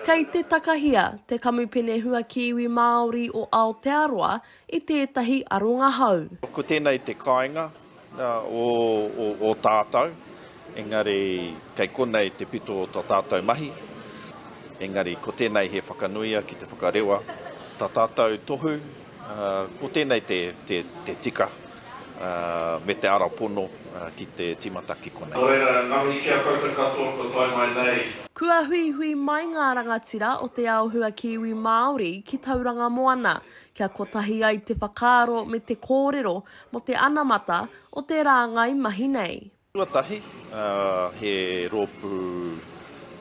Kei te takahia te Kamupene Hua Kiwi Māori o Aotearoa i tētahi aronga hou. Ko tēnei te kāinga o tātou, engari kei konei te pito o tō tātou mahi. Engari ko tēnei he whakanuia ki te whakarewa, tā tātou tohu, Ko tēnei te tika me te ara pono ki te timata ki konei. Nō reira, nga mihi ki a koutou katoa kua tae mai nei. Kua huihui mai ngā rangatira o Te Ao Hua Kiwi Māori ki Tauranga Moana kia kotahi ai te whakaaro me te kōrero mō te anamata o te rāngai mahi nei. Tuatahi, he rōpū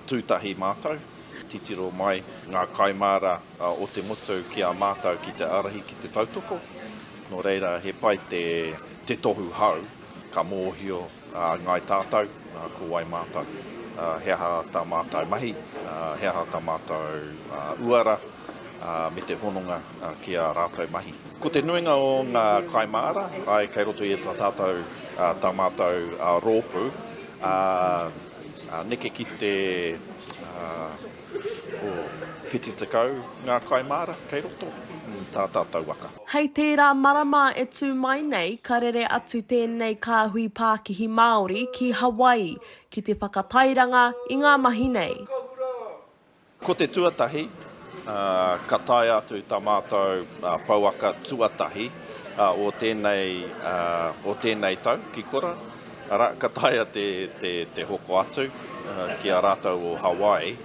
tūtahi mātou, titiro mai ngā kaimāra o te motu ki a mātou ki te ārahi ki te tautoko. Nō reira, he pai te tohu hou, ka mōhio ngai tātou ko wai mātou, he aha tā mātou mahi, he aha tā mātou uara me te hononga ki ā rātou mahi. Ko te nuinga o ngā kaimāra, ae, kei roto i tā tātou, tā mātou rōpū, neke ki te 70 ngā kaimāra kei roto i tā tātou waka. Hei tērā marama e tū mai nei, ka rere atu tēnei kāhui pākihi Māori ki Hawaii ki te whakatairanga i ngā mahi nei. Ko te tuatahi, ka taea atu tā mātou pouaka tuatahi o tēnei, o tēnei tau ki kora, arā, ka taea te, te, te hoko atu ki a rātou o Hawaii.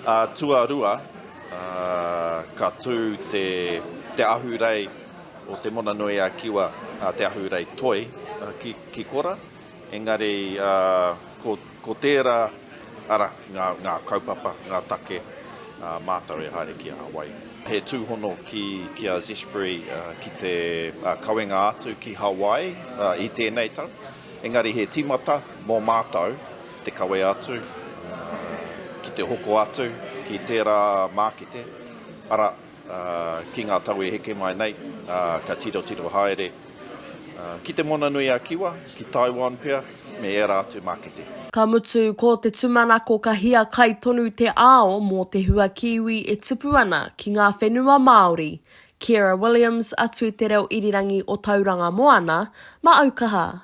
Ā, tuarua, ka tū te, te ahurei o Te Mona-nui-a-Kiwa, te ahurei toi ki, ki kora, engari ko. Ko tērā, arā, ngā kaupapa, ngā take a mātou e haere ki a wai. He tūhono ki a Zespri ki te kawenga atu ki Hawaii i tēnei tau, engari he tīmata mō mātou te kawe atu ki te hoko atu ki tērā mākete, arā, Ki ngā tau e heke mai nei, ka tirotiro haere ki Te Moana-nui-a-Kiwa, ki Taiwan pea, me ērā atu mākete. Ka mutu, ko te tūmanako ka hiakai tonu te ao mō te hua Kiwi e tupu ana ki ngā whenua Māori. Ciara Williams, a Tū Te Reo Irirangi o Tauranga Moana, Mā Aukaha!